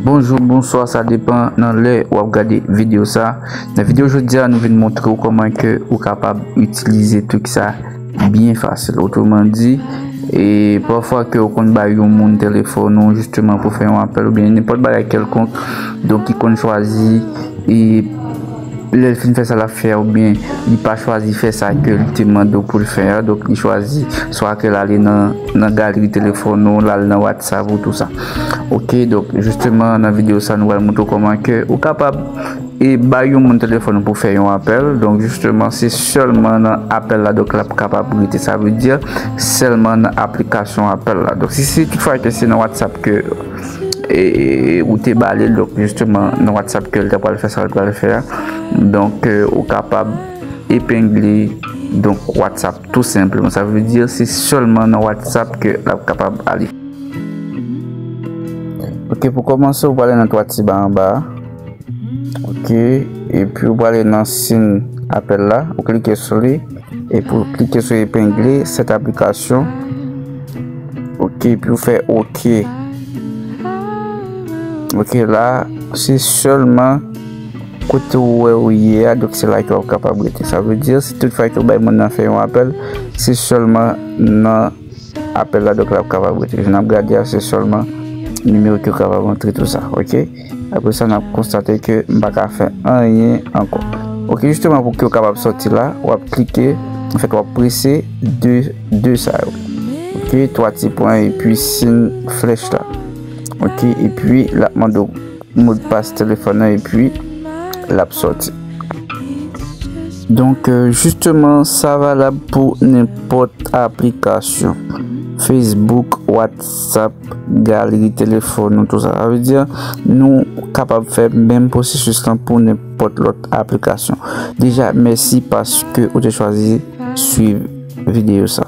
Bonjou, bonswa, sa depan nan lè wap gade video sa Nan video jodia nou vin montre ou koman ke ou kapab itilize trik sa byen fasil Otreman di, e pafwa ke ou konn bay yon moun telefon ou jisteman pou fè yon apèl oubyen nenpòt bagay kèlkonk Donk ki konn chwazi e Lè l fin fè sa l ap fè a oubyen li pa chwazi fè sa ke l te mande w pou l fè a, donk li chwazi swa ke l ale nan galeri telefòn ou, l al nan whatsapp ou tou sa. Ok, donk jisteman nan videyo sa nou pral montre w kòman ke ou kapab e bay yon moun telefòn ou pou fè yon apèl, donk jisteman se sèlman nan apèl la donk l ap kapab rete sa vle di sèlman nan aplikasyon apèl la. Donk si se tout fwa ke se nan whatsapp ke. e ou te bale l donk jisteman nan whatsapp ke l ta pral fè sa l pral fè a donk ou kapab epengle donk whatsapp tou senpleman sa vle di se sèlman nan whatsapp ke l ap kapab ale ok pou kòmanse ou pral ale nan 3 ti ba anba a Ok epi ou prale nan sin apèl la ou klike sou li epi ou klike sou epengle set aplikasyon ok epi ou fè ok ok la se selman kote ou wè ou ye a dok se la ki wap kapab rete sa vle di si tout fay ki ou bay moun nan fè yon apèl se selman nan apèl la dok la wap kapab rete jan nap gade a se selman nimewo ki ou kapab antre tout sa ok Apre sa nap konstate ke m pa ka fè anyen ankò. Ok jisteman pou ke w kapab sòti la wap klike an fèt wap prese 2 2 sa yo ok 3 ti pwen an epi siy flèch la ok epi lap mande w modpas telefòn nan epi lap sòti donk jisteman sa valab pou nenpòt aplikasyon facebook whatsapp WhatsApp, galri telefòn nou, tout sa. Sa vle di nou kapab fè menm pwosesis lan pou nenpòt lòt aplikasyon. Deja, mèsi paske ou te chwazi swiv videyo sa.